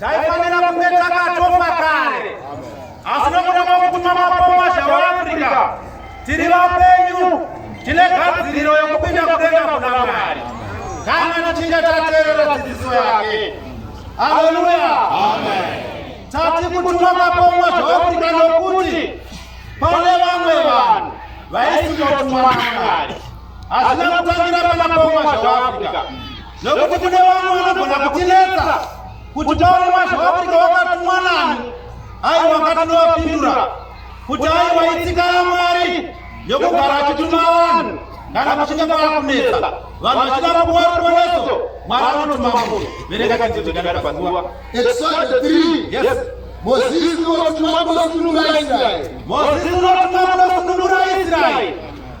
Taifanira kunge takatofa kare, asi nokuda kwokutuma mapoma zvevaAfrica tiri vapenyu, tine gadziriro yokupinda kudenga kuna Mwari kana tichinge tateerera dzidziso yake. Haleluya! Tati kutuma mapoma zveAfrica nokuti pane vamwe vanhu vaisingatumwa naMwari, hazvina kutangira pana poma zveAfrica nokuti kune vamwe vanogona kutinetsa kuti taone mazvoafrika wakatumwa nani aiwa ngatinovapindura kuti aiwa itsika yamwari yokugara achituma vanhu kana kuchinge kwaakunetsa vanhu vachida kuwa ruponeso mwari anotuma mbo vereka chidzidzokadakapanguva Moses unotumwa kunosunungura Israeri. Moses unotumwa kunosunungura Israeri.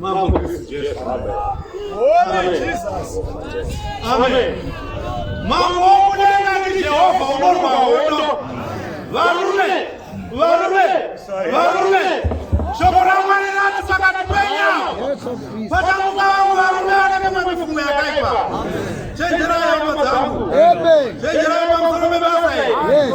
Mambo Kristu Jesu. Holy Jesus. Amen. Mambo wokudenga ndi Jehova unorwa hondo. Varume, varume, varume. Shoko ra Mwari rati pakati penya. Patamuka vangu varume vanenge mamifungo yakaipa. Chenjerai hama dzangu. Chenjerai pamusoro pebasa iri.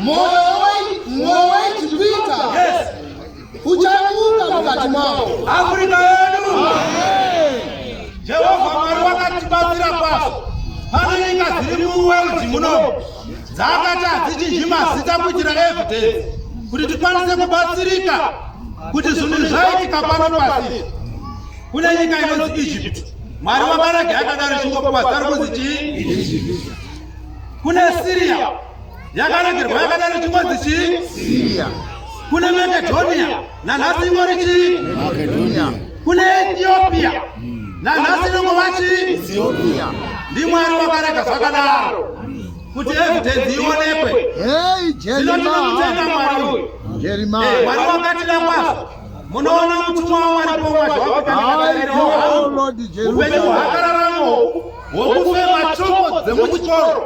Mwoyo wedu kuita uchamuka mukati mavo. Afrika yedu. Jehovha Mwari wakatibatsira kwazvo. Pane nyika dziri muwerudzi muno dzakati hadzichinji mazita kuitira evidence kuti tikwanise kubatsirika kuti zvinhu zvaitika pano pasi kune nyika inonzi egypt mwari wabarage akadaro chingokuwazari kunzi chii kune syria yakanakirwa yakadaro chingonzi chii siya kune makedhoniya nanhasi ingori chii kune etiopia nanhasi inongova chii ndimwari wakarega zvakadaro kuti evidence ionekwe zinotinamutenda mwari uyu eh, mwari wakatida kwazvo munoona mutumwa wamwari pomwazvaupenyu hwakararamo hwokufema choko dzemuchikoro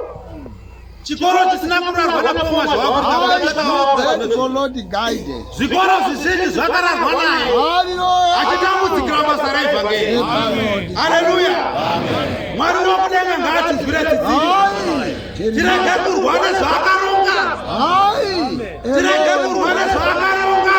chikoro chisina kurarwa napoma zvavakuiolodi guide zvikoro zvizhinji zvakararwa naye achitambudzikira basa raevhangeri haleluya mwari wakudenga ngaatizwire tsitsi tirege kurwa nezvaakaronga tirege kurwa nezvaakaronga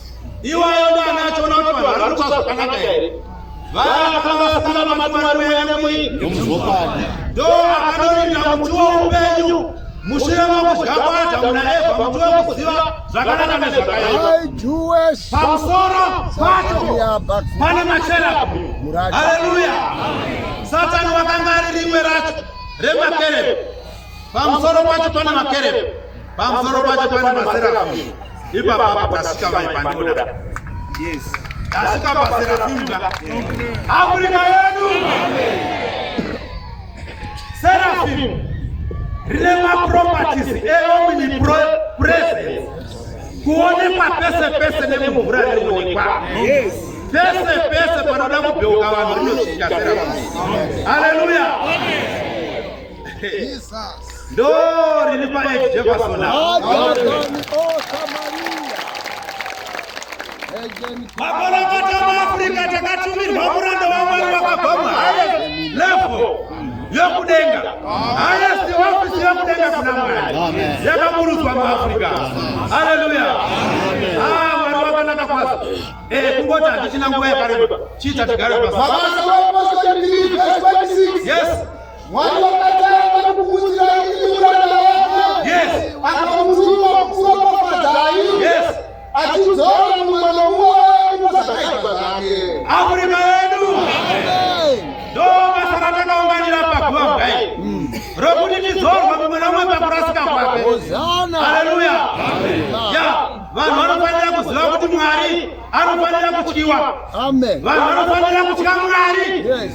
Iwayo ndo anachoona kuti vanhu vari kuita zvakanaka here. Vakanga vasina mamatwari wende mui. Nomuzvokadi. Ndo akanorinda muti woupenyu. Mushure mokudya kwaAdhamu naEvha muti wekuziva zvakanaka nezvakaipa. Pamusoro pacho pane macherabu. Haleluya. Satani wakanga ari rimwe racho remakereke. Pamusoro pacho pane makerebe, pamusoro pacho pane maserafi. Ipapa pakasika mai pandoda. Yes. Tasika paserafi mda. Afrika yedu. Serafi. Rine ma properties eomni pro presence. Kuonekwa pese pese nemumvura rinoonekwa. Yes. Pese pese panoda kubheuka vanhu rinosvika serafi. Hallelujah. Amen. Ndo riri pa Ed Jefferson. Makona kota muAfrica takatumirwa muranda waMwari wakabva muhaya level yokudenga haya siwafisi yokudenga kuna Mwari yakaburutswa muAfrica. Haleluya. Ah, Mwari wakanaka kwasa. Eh, kungoti hatichina nguva yakareba. Chiita tigare pasi. Yes. Mwari wakatanga kukuudzai imi muranda wake. Yes. Akamutuma kukuropafadzai. Yes. Achidzora mumwe nomumwe wenyu zvakaipa zvake. Afrika yedu ndo basa ratakaunganira paguva kudai rokuti tidzorwa mumwe nomumwe pakurasika kwake. Hosana. Haleluya. Ya, vanhu vanofanira kuziva kuti Mwari anofanira kutyiwa. Amen. Vanhu vanofanira kutya Mwari. Yes.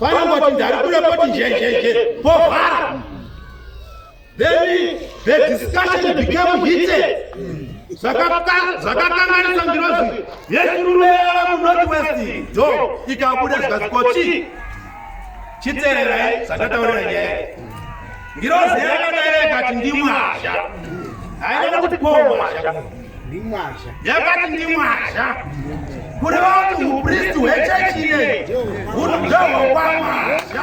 panangoti ndarikure poti njenjenje povhara then the discussion became heated zvakakanganisa ngirozi yechiruru yava munorth west dzo ikabuda zvikazikochi chitererai zvandataurira nyaya Ngirozi yakadai yakati ndimwazha. Haina kuti pomwazha. Ndimwazha. Yakati ndimwazha. Kuri vati upristi hwechechi ineyi hunobzahwa kwamwazha.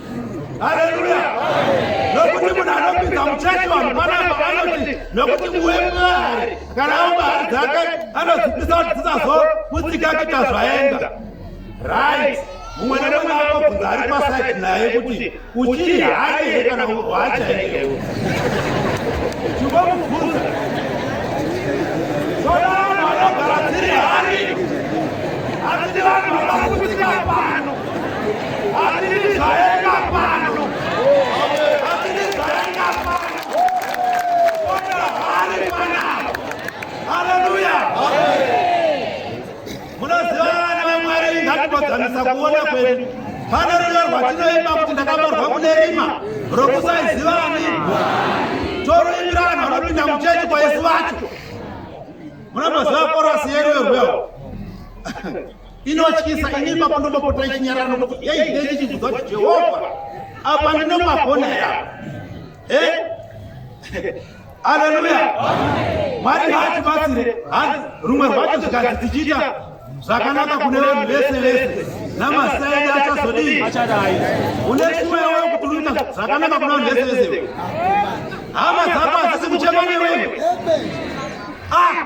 Haleluya! Nokuti munhu anopinza muchechi vanhu panapa vanoti nokuti muwe mari kana awo mari dzake anozipisa kuti dzisazoputsika kuita zvaenda right mumwe nemumwe anobvunza ari pasaidi naye kuti uchiri hayi here kana hwachaikewo chingomubvunza soda vanhu vanogara dziri hari asi ndi vanhu vakaputsika pano kuenzanisa kuona kwedu pane rudo rwatinoimba kuti ndakaborwa kune rima rokusaiziva ani toruimbira vanhu vanopinda muchechi kwaisu vacho munomboziva korasi yeruyo rwewo inotyisa ini ipapo ndotopota ichinyarara nokuti ei dei ichibvunza kuti jehovha apa ndinomagona ya e aleluya mwari haatibatsire rumwe rwacho zvikanzi tichiita zvakanaka kune vanhu vese vese namasaidi achazodii une chiwewe kuti unoita zvakanaka kune vanhu vese vese hama dzako hadzisi kuchema newewe ah!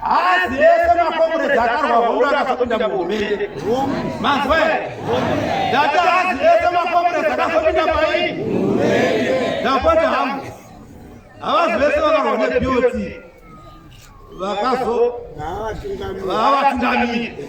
Haazi ese makomurezi akarwa hondo akazopinda muhurumende. Manzwa here? Ndati haazi ese makomurezi akazopinda pai? Ndapota hangu. Havazi vese vakarwa neBOT vakazo vavatungamiri.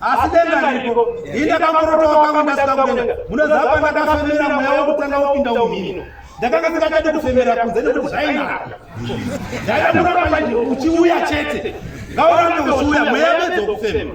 asi denga riko ini akamorotoa kwangu ndasika kudenga munoziva pandakafemera mweya wekutanga wopinda umhino ndakanga ndingachade kufemera kunze nekuti zvainaka ndaida kuramba uchiuya chete ngaurambe uchiuya mweya medzo kufema